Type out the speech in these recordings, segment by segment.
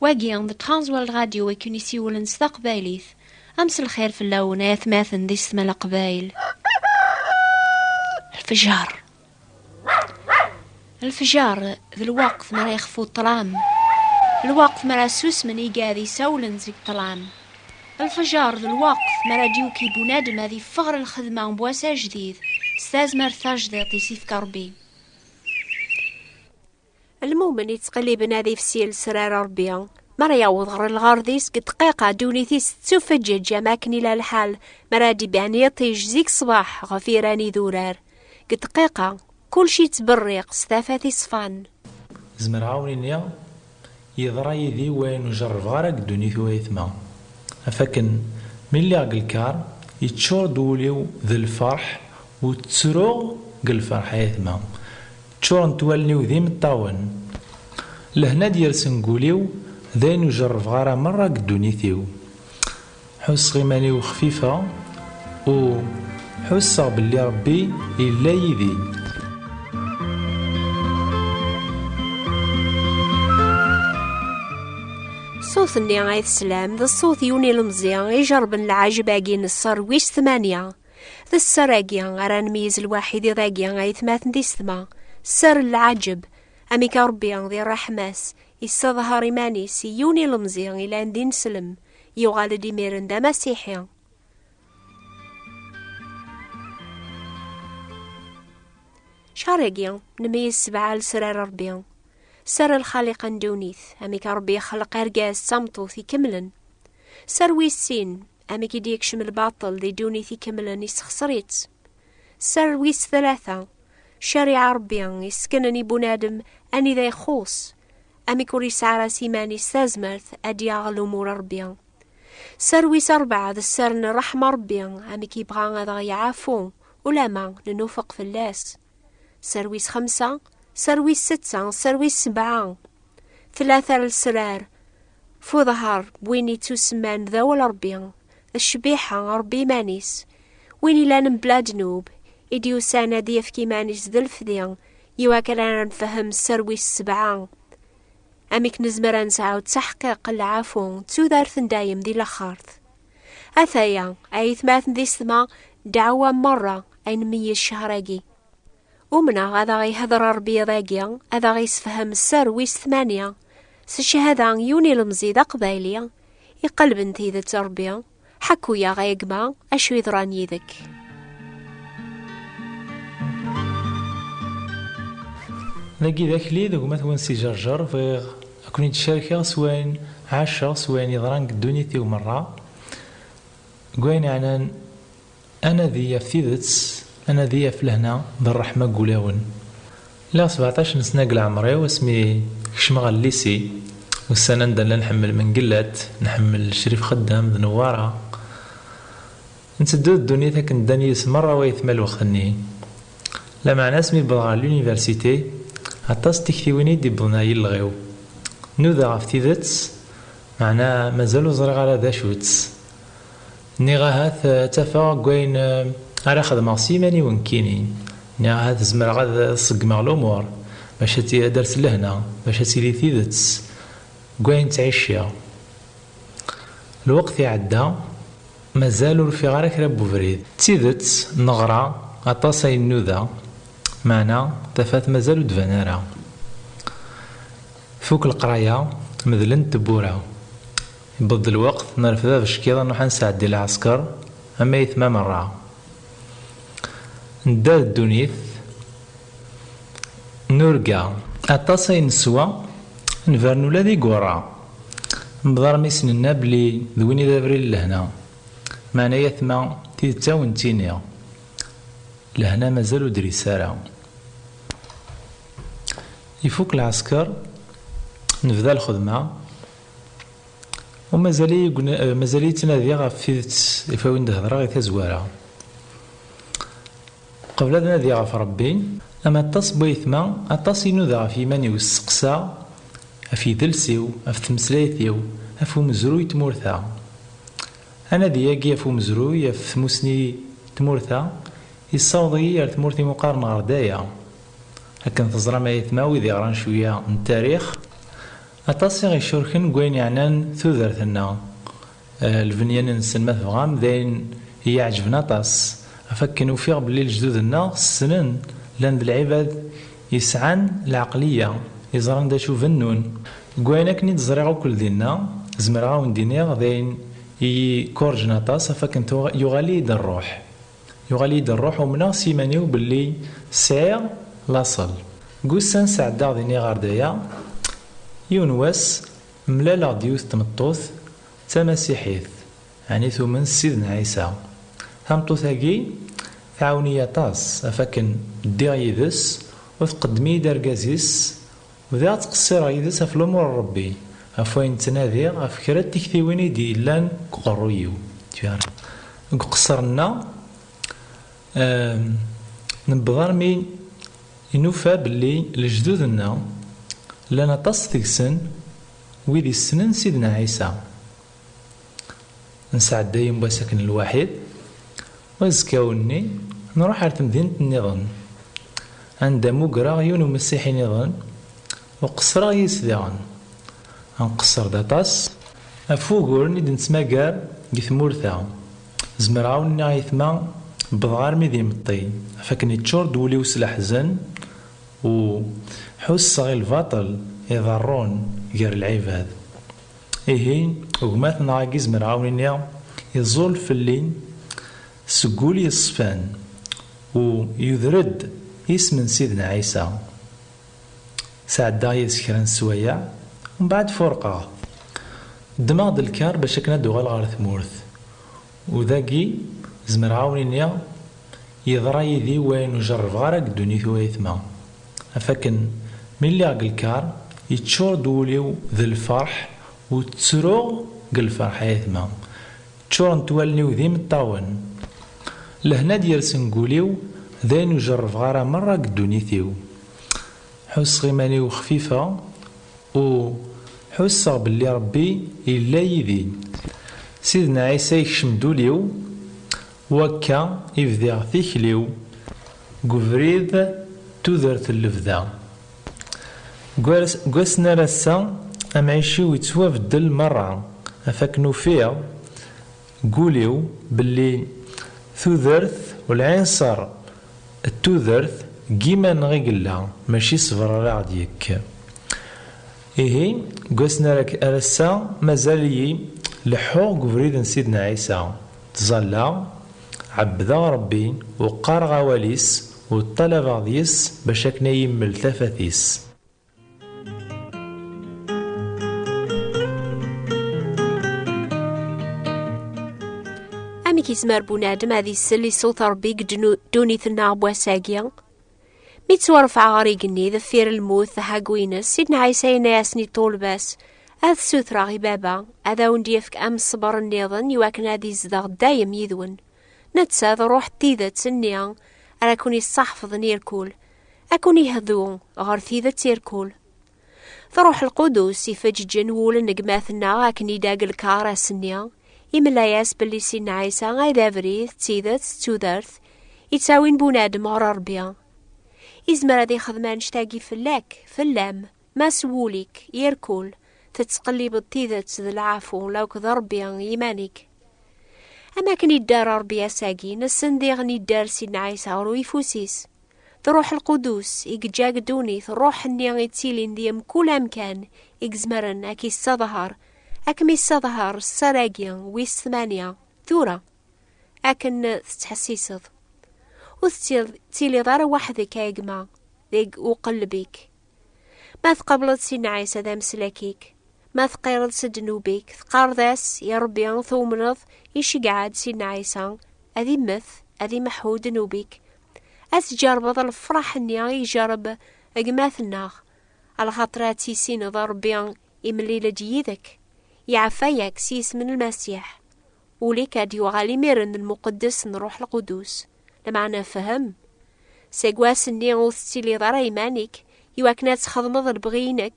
Wagi d Transworld Radio i ken-isiwlen s taqbaylit. Am s lxir fell-awen ay atmaten di setma laqbayl. Lfejar. Lfejar d lwaqt mi ara yexfu ṭṭlam. Lwaqt mi ara susmen igad isawlen seg ṭṭlam. Lfejar d lwaqt mi ara d-yuki bunadem ad yeffeɣ ɣer lxedma n wass ajdid s tazmert tajdiṭ i s-ifka Rebbi. Lmumen yettqelliben adif si lesrar Rebbi. Mi ara yaweḍ ɣer lɣard-is deg dqiqa ddunit-is tettufeǧǧeǧ am akken ila lḥal mi ara d-iban yiṭij zik ṣṣbeḥ ɣef yiran idurar. Deg dqiqa, kullec yettberriq s tafat iṣfan. Zemreɣ a wen-iniɣ Yeḍra yid-i wayen ur jerrbeɣ ara deg ddunit uayetma. Af akken mi lliɣ deg lkar, yeččur-d wul-iw d lferḥ u ttruɣ deg lferḥ ayetma. Ččurent wallen-iw d imeṭṭawen. Lehna d-yersen deg wul-iw d ayen ur jerrbeɣ ara merra deg ddunit-iw. Ḥusseɣ iman-iw xfifa u ḥusseɣ belli Rebbi yella yid-i. Ṣṣut-nni ay teslam d ṣṣut yiwen ilemẓi ijerben lɛejb-agi n ṣṣer wis tmanya. D ṣṣer-agi ara nmeyyez lwaḥi d iḍ-agi ayetmaten d isetma. Ṣṣer n lɛejb. Amek Rebbi di ṛṛeḥma-s, yesseḍher iman-is i yiwen ilemẓi ilan d ineslem. Yuɣal-d imiren d amasiḥi. Carigiya, nmeyyez sebɛa lesrar Rebbi. Sser lxaliqa n ddunit, amek Rebbi ixleq argaz d tameṭṭut ikemlen. Sser wis sin, amek i d-yekcem lbaṭel di ddunit ikemlen isexser-itt. Sser wis tlata, cariɛa Rebbi yessken-n i bunadem anida ixuṣ, amek ur yesɛara s iman-is tazmert ad d-yaɣ lumuṛ Ṛebbi. Sser wis ṛebɛa d sser n ṛṛeḥma Ṛebbi, amek yebɣa ad aɣ-yeɛfu ulamma nenufeq fell-as. Sser wis xemsa, sser wis setta, sser wis sebɛa. Tlata n lesrar f uḍher n win yettusemman d awal Ṛebbi, d ccbiḥa Ṛebbi iman-is, win yellan mebla ddnub, i d-yusan ad d-yefk iman-is d lefdi iwakken ara nfehhem sser wis sebɛa amek nezmer ad nesɛu ttaḥqiq n lɛafu d tudert n dayem di laxert ataya ayetmaten di setma dɛawa merra ay nmeyyi ccehragi umneɣ ad aɣ-ihder rebbi iḍ-agi ad aɣ-isefhem sser wis tmanya s cchada yiwen ilemẓi d aqbayli iqelben tidet rebbi Ḥaku-yaɣ a gma acu yeḍran yid-k. Dagi d akli d gma-twen Si Jerjer, bɣiɣ a ken-id-carkeɣ s wayen ɛaceɣ, s wayen yeḍran deg ddunit-iw merra, deg wayen yeɛnan Anadi ɣef tidet, anadi ɣef lehna d rreḥma deg wulawen. Lliɣ sebɛṭac n sna deg leɛmer-iw asmi kecmeɣ ɣer llisi. Ussan anda nella nḥemmel Mengellat, nḥemmel Crif Xeddam d Newwara. Nteddu d ddunit akken ddan yid-s merra wayetma lwext-nni. Lameɛna asmi wwḍeɣ ɣer l'université, aṭas n tiktiwin i d-iwwḍen ɣer yilleɣ-iw. Nudaɣ ɣef tidet, meɛna mazal ur ẓriɣ ara d acu-tt. Nniɣ ahat ad tafeɣ deg wayen ara xedmeɣ s yiman-iw nekkini. Nniɣ ahat zemreɣ ad ṣeggmeɣ lumuṛ, bac ad d-ters lehna, bac ad tili tidet deg wayen ttɛiciɣ. Lweqt iɛedda, mazal ur ufiɣ ara kra n webrid. D tidet, neɣra aṭas ay nnuda, meɛna tafat mazal ur d-tban ara. Tfuk leqraya, medlent tewwura. Yewweḍ-d lweqt, nerfed abeckiḍ, nruḥ ad nesɛeddi lɛesker, am ayetma merra. Nedder ddunit, nurga. Aṭas ay neswa, nbern ula d igerra. Nebḍer mi s-nenna belli d win i d abrid n lehna. Meɛna ayetma, tidet ad awen-tt-iniɣ, lehna mazal ur d-tris ara. Ifuk lɛesker, nebda lxedma. U mazal-iyi mazal-iyi ttnadiɣ ɣef tidet i fawin d-hedreɣ i tazwara. Qbel ad nadiɣ ɣef Rebbi. Am aṭas n wayetma, aṭas i nudaɣ ɣef yiman-iw, steqsaɣ ɣef yidles-iw, ɣef tmeslayt-iw, ɣef umezruy n tmurt-a. Anadi-agi ɣef umezruy, ɣef tmusni n tmurt-a, yessaweḍ-iyi ar tmurt imuqaren ɣer daya. Akken teẓram a ayetma wid iɣran cwiya n tarix, Aṭas i ɣ-icurken deg wayen yeɛnan tudert-nneɣ. Lbenyan-nsen, ma tebɣam, d ayen i yi-iɛeǧben aṭas, ɣef wakken ufiɣ belli lejdud-nneɣ ssnen, llan d lɛibad yesɛan lɛeqliya, yeẓran d acu bennun. Deg wayen akken i d-ẓriɣ akk ldin-a, zemreɣ a wen-d-iniɣ d ayen i yi-ikurjen aṭas, ɣef wakken tuɣ yuɣal-iyi-d rruḥ, Yuɣal-iyi-d rruḥ umneɣ s iman-iw belli sɛiɣ laṣel. Deg ussan sɛeddaɣ din iɣerdaya, yiwen wass mlaleɣ-d yiwet tmeṭṭut d tamasiḥit, ɛni tumen s Sidna Ɛisa. Tameṭṭut-agi tɛawen-iyi aṭas af akken ddiɣ yid-s u tqeddem-iyi-d argaz-is Bdiɣ ttqessireɣ yid-s ɣef lumuṛ n Ṛebbi, ɣef wayen ttnadiɣ, ɣef kra n tiktiwin i d-yellan deg uqerruy-iw. Deg uqesser-nneɣ, newweḍ armi i nufa belli lejdud-nneɣ llan aṭas deg-sen wid yessnen Sidna Ɛisa. Nesɛedday un wass akken lwaḥid, wazekkaw-nni nruḥ ar temdint nniḍen, anda mugreɣ yiwen umessiḥi niḍen u qeṣreɣ yis-s diɣen. Nqeṣṣer-d aṭas ɣef wuguren i d-nettmagar deg tmurt-a. Zemreɣ a wen-nniɣ a ayetma, wwḍeɣ armi d imeṭṭi, ɣef wakken yeččur-d wul-iw s leḥzen u ḥusseɣ i lbaṭel iḍerrun gar lɛibad. Ihi, gma-tneɣ agi zemreɣ a wen-iniɣ, iẓul fell-i seg wul yeṣfan u yuder-d isem n Sidna Ɛisa. Sɛeddaɣ yid-s kra n sswayeɛ, mbeɛd furqeɣ. Ddmeɣ-d lkar bac akken ad d-uɣaleɣ ɣer tmurt. U dagi, zemreɣ a wen-iniɣ, yeḍra yid-i wayen ur jerrbeɣ ara deg ddunit u ayetma. Af akken mi lliɣ deg lkar, yeččur-d wul-iw d lferḥ u ttruɣ deg lferḥ, a yetma. Ččurent wallen-iw d imeṭṭawen. Lehna d-yersen deg wul-iw d ayen ur jerrbeɣ ara merra deg ddunit-iw. Ḥusseɣ iman-iw xfifeɣ u ḥusseɣ belli Rebbi yella yid-i. Sidna Ɛisa yekcem-d ul-iw Wakka i bdiɣ tikli-w deg ubrid n tudert n lebda. Deg wass n ar ass-a, amɛic-iw yettwabeddel merra, ɣef akken ufiɣ deg ul-iw belli tudert u lɛinṣer n tudert deg yiman-nneɣ i yella, mačči ṣṣber ara ɣ-d-yekk. Ihi, deg wass n ar ass-a, mazal-iyi leḥḥuɣ deg ubrid n Sidna Ɛisa. Ttẓallaɣ, ɛebbdeɣ Ṛebbi, u qqaṛeɣ awal-is, u ṭṭalabeɣ deg-s bac akken a yi-mmel tafat-is. Amek izmer bunadem ad isell i ṣṣut Ṛebbi deg ddunit-nneɣ n wass-agi? Mi ttwarfeɛ ɣer igenni deffir lmut taḥagwines, Sidna Ɛisa yenna-asen i ṭṭulba-s, Ad sutreɣ i baba, ad awen-d-yefk am ṣṣber nniḍen i wakken ad izdeɣ dayem yid-wen. Netta d ṛuḥ n tidet nni ara ken-issaḥfḍen irkul, ad ken-ihdu ɣer tidet irkul. Truḥ lqudus ifeǧǧen wul n gma-tneɣ akken i dag lkar ass-nni, imla-yas belli si Ɛisa ay d abrid, d tidet, d tudert, yettawin bunadem ɣer Rebbi. Izmer ad ixdem annect-agi fell-ak, fell-am, ma s wul-ik, irkul, tettqellibeḍ tidet d lɛafu, lawk d Rebbi yiman-ik. Am akken idder Rebbi ass-agi, nessen diɣen idder si Ɛisa ɣer uyeffus-is. D Ruḥ Lqudus i yeǧǧa-k ddunit, Ruḥ-nni i ttilin di mkul amkan i yezmeren ad k-yessedher, ad kem-yessedher sser-agi wis tmanya, tura, akken tettḥessiseḍ. Ur tettiliḍ ara weḥd-k a gma, deg uqelleb-ik. Ma tqableḍ si nneɛisa d ameslak-ik, ma teqqireḍ s ddnub-ik, teqqareḍ-as i Rebbi tewmneḍ, iceggeɛ-d si nneɛisa, ad immet, ad imeḥḥu ddnub-ik, ad tǧerbeḍ lefraḥ-nni i ijerreb gma-tneɣ, lxaṭer ad tissineḍ Ṛebbi imlil-d yid-k, iɛeffa-yak s yisem n Lmasiḥ. Ul-ik ad yuɣal imiren d lmuqeddes n Ṛuḥ Lqudus, lmeɛna fhem, seg wass-nni ur tettiliḍ ara iman-ik i wakken ad txedmeḍ lebɣi-inek,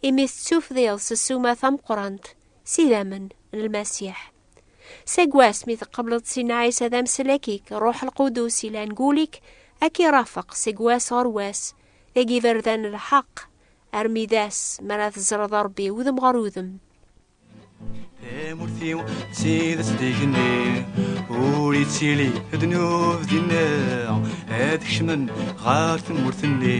imi tettufdiḍ s ssuma tameqqrant s idammen n Lmasiḥ. Seg wass mi teqbleḍ Sin Ɛisa d amslek-ik, Ruḥ Lqudus ilan gul-ik, ad k-irafeq seg wass ɣer wass, deg iberdan n lḥeqq, armi d ass mi ara teẓreḍ Rebbi udem ɣer udem. Tamurt-iw d tidet d igenni, ur ittili ddnub dinna, ad kecmen ɣer tmurt-nni.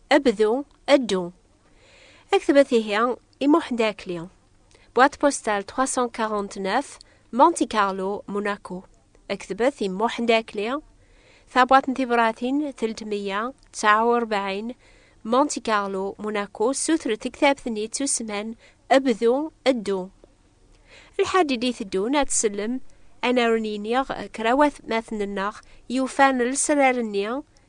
Abdu, addu. Ad ktbet ihi i Muḥend Akli. Boîte postale 349, Monte Carlo, Monaco. Ad ktbet i Muḥend Akli. Tabwaṭ n tibratin 349, Monte Carlo, Monaco. Sutret tektabt-nni d tussman Abdu, addu. Lḥaǧ i d-iteddun ad tsellem anaru n yiniɣ krawat matn-nneɣ yufan lesrar-nni